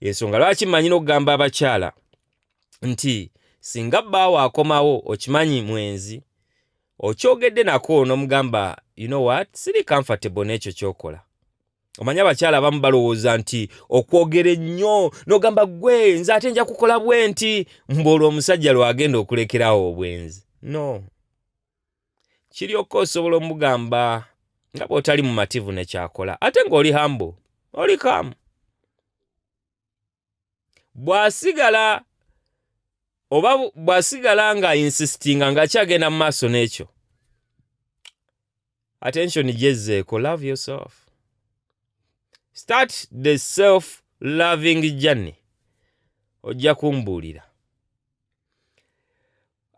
yensonga lwaki mmanyi n'okugamba abakyala nti singa bbaawo akomawo okimanyi mwenzi okyogedde nako n'omugamba you know what siri comfortable n'ekyo kyokola omanyi abakyala abamu balowooza nti okwogera ennyo n'ogamba gwe nze ate nja kukola bwe nti mbuolwa omusajja lwagenda okulekerawo obwenzi no kiryoka osobola omugamba nga bw'otali mumativu ne kyakola ate ng'oli hambo oli kamu bw'asigala oba bw'asigala nga insistinga ng'akyagenda mu maaso n'ekyo attention gyezzeeko love yourself start the self loving journey ojja kumbuulira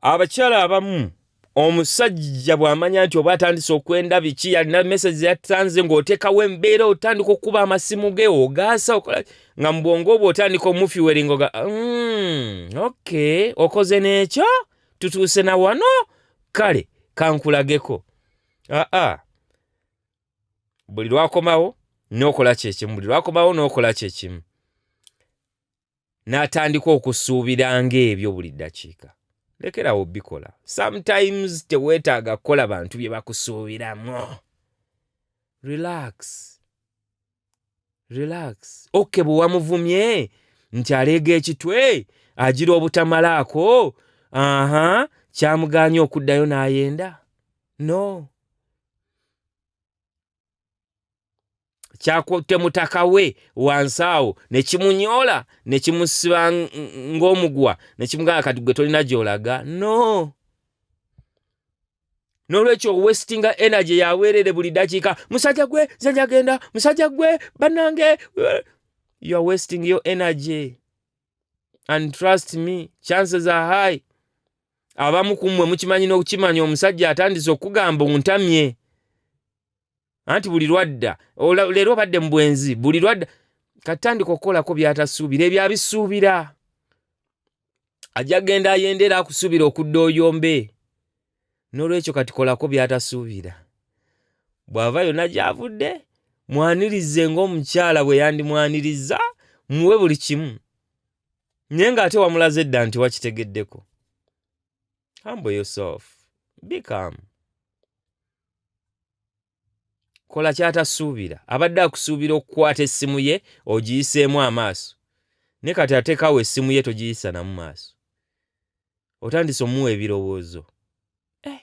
abakyala abamu omusajja bw'amanya nti oba atandise okwenda biki yalina mesage yatanze ng'oteekawo embeera otandika okukuba amasimu ge ogaasa okola nga mu bwongo obwo otandika omufiweringo ga mm, ok okoze n'ekyo tutuuse na wano kale kankulageko aa ah, ah. buli lwakomawo n'okola kyekimu buli lwakomawo n'okola kyekimu n'atandika okusuubira ng'ebyo buli ddakiika lekerawo bikola sometimes teweetaaga kukola bantu bye bakusuubiramu relax relax oke bwe wamuvumye nti aleega ekitwe agira obutamalaako aha kyamugaanya okuddayo n'ayenda no kyakutte mutaka we wansi awo ne kimunyoola ne kimusiba ng'omugwa ne kimugamba kati gwe tolina gy'olaga no n'olwekyo owestinga energy yaweerere buli dakiika musajja gwe nze njagenda musajja gwe bannange you are wasting your energy and trust me chances are high abamu kumwe mukimanyi nokukimanya omusajja atandise okugamba ontamye anti buli lwadda leero obadde mu bwenzi buli lwadda katandika okukolako byatasuubira ebyo abisuubira ajja genda ayendera akusuubira okudda oyombe n'olwekyo kati kolako by'atasuubira bw'ava yonna gy'avudde mwanirize ng'omukyala bwe yandimwanirizza muwe buli kimu naye ng'ate wamulaze dda nti wakitegeddeko humble yourself be calm kola kyatasuubira abadde akusuubira okukwata essimu ye ogiyiseemu amaaso ne kati ateekawo essimu ye togiyisa namu maaso otandise omuwa ebirowoozo eh,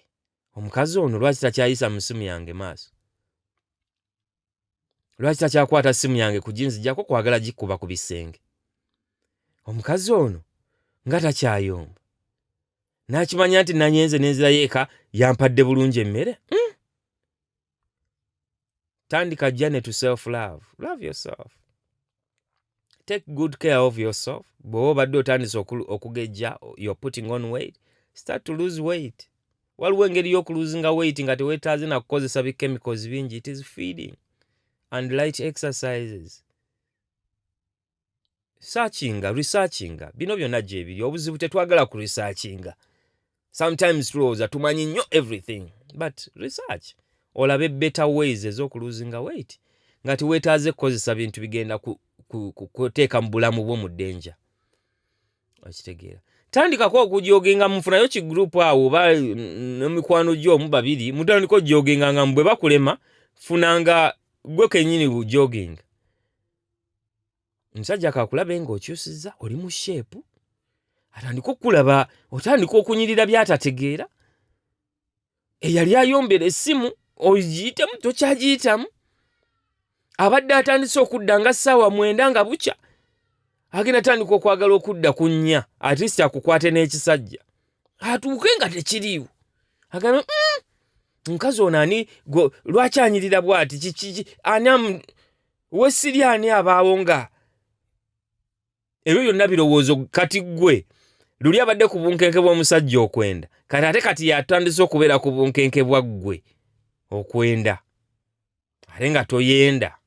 omukazi ono lwaki takyayisa mu ssimu yange maaso lwaki takyakwata ssimu yange kuginzijako kwagala gikuba ku bisenge omukazi ono nga takyayomba nakimanya nti nanyenze nenzirayo eka yampadde bulungi emmere mm. tandika jane to self love love yourself take good care of yourself bweoba obadde otandise okugejja you're putting on weight start to lose weight waliwo engeri y'okuluzinga weight nga tewetaaze nakukozesa bi chemicals bingi it is feeding and light exercises searchinga researchinga bino byonna gyebiri obuzibu tetwagala ku researchinga sometimes tulowooza tumanyi nnyo everything but research olabe better ways ez'okuluzinga weight nga tiwetaaze kukozesa bintu bigenda kuteeka mu bulamu bwo mu denja okitegeera tandikako okujoginga mufunayo ki group awo oba nemikwano gyo omu babiri mutandika ojoginganga mu bwe bakulema funanga gwe kenyini bujoginga omusajja kakulabe nga okyusiza oli mu sheepu atandika okukulaba otandika okunyirira byatategeera eyali ayombera essimu ogiyitemu tokyagiyitamu abadde atandise okudda nga ssaawa mwenda nga bukya agenda atandika okwagala okudda ku nnya atist akukwate n'ekisajja atuuke nga tekiriiwo agambe mm, mukazi ono ani lwaki anyirira bwati kiki ani wesiri ani abaawo nga ebyo byonna birowoozo kati gwe luli abadde ku bunkenke bw'omusajja okwenda kati ate kati yatandise okubeera ku bunkenke bwa ggwe okwenda ate nga toyenda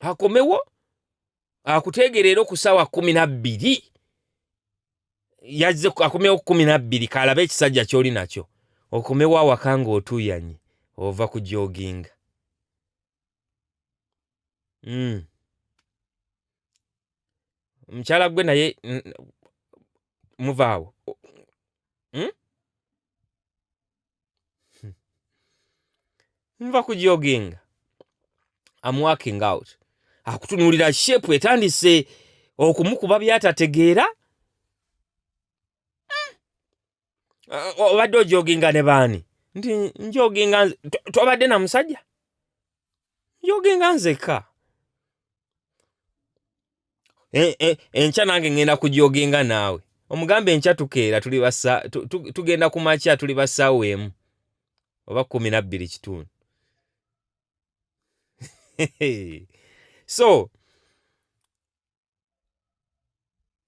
akomewo akuteegera era okusawa kumi nabbiri yazze akomewo kumi nabbiri kalabe ekisajja kyoli nakyo okomewo awaka nga otuuyanye ova ku joginga mm. mukyala gwe naye muvaawo mm? nva ku joginga am working out akutunuulira shepu etandise okumukuba byatategeera Uh, obadde ojoginga ne baani nti njoginga nze- to- tobadde na musajja njoginga nzekka e, e, enkya nange ngenda kujogenga naawe omugambe enkya tukeera tuli basa tu, tu, tugenda ku makya tuli basaawo emu oba kumi nabbiri kitundu so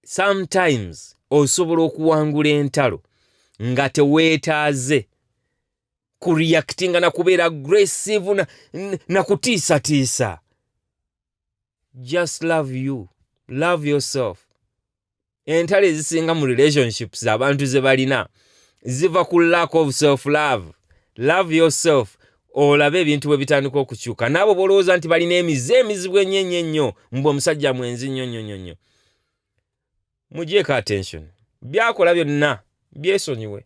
sometimes osobola okuwangula entalo nga teweetaaze kureactinga na kubeera aggressive na, na kutiisatiisa just love you love yourself entalo ezisinga mu relationships abantu ze balina ziva ku lack of self love love yourself olabe ebintu bwe bitandika okukyuka naabo bolowooza nti balina emize emizibu enyo enyo ennyo mbu omusajja mwenzi nnyo nnyo nnyo nnyo mugyeko attention byakola byonna byesonyiwe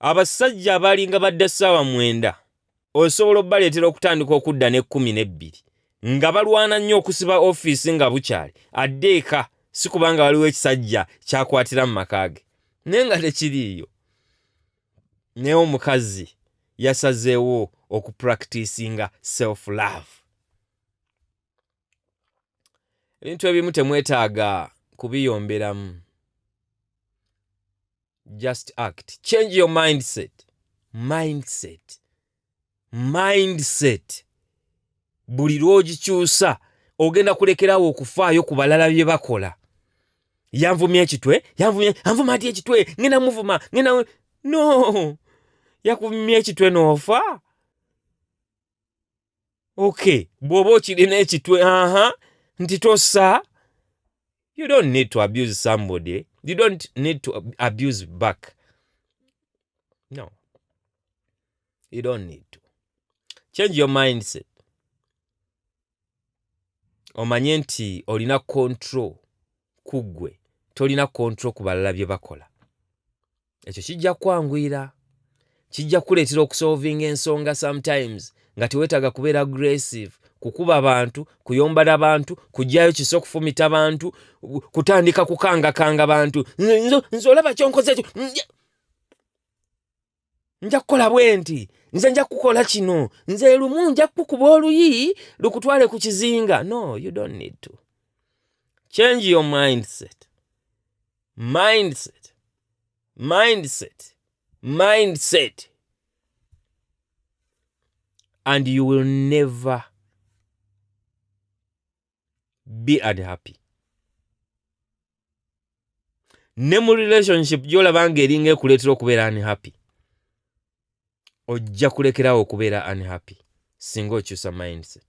abasajja abaalinga badda ssaawa mwenda osobola okubaleetera okutandika okudda n'ekkumi n'ebbiri nga balwana nnyo okusiba ofiisi nga bukyali adde eka si kubanga waliwo ekisajja kyakwatira mu maka ge naye nga tekiriiyo naye omukazi yasazeewo okupractisinga self love ebintu ebimu temwetaaga kubiyomberamu just act change your mindset mindset mindset buli lwogikyusa ogenda kulekerawo okufaayo ku balala bye bakola yanvumya ekitwe yanvumya anvuma ati ekitwe ngenda muvuma ngenda no yakuvumya ekitwe noofa okay bw'oba okirina ekitwe aha nti tossa you don't need to abuse somebody you don't need to abuse back no you don't need to change your mindset omanye nti olina control ku ggwe tolina control ku balala bye bakola ekyo kijja kukwanguyira kijja kukuleetera okusolvinga ensonga sometimes nga teweetaaga kubeera aggressive kukuba bantu kuyombala bantu kugyayo kisa okufumita bantu kutandika kukangakanga bantu nze olaba kyonkoze ekyo nja kukola bwenti nze nja kukola kino nze lumu nja kukuba oluyi lukutwale ku kizinga no you don't need to change your mindset mindset mindset mindset and you will never be unhappy ne mu relationship gyolaba nga eringa ekuleetera okubeera unhappy ojja kulekerawo okubeera unhappy singa okyusa mindset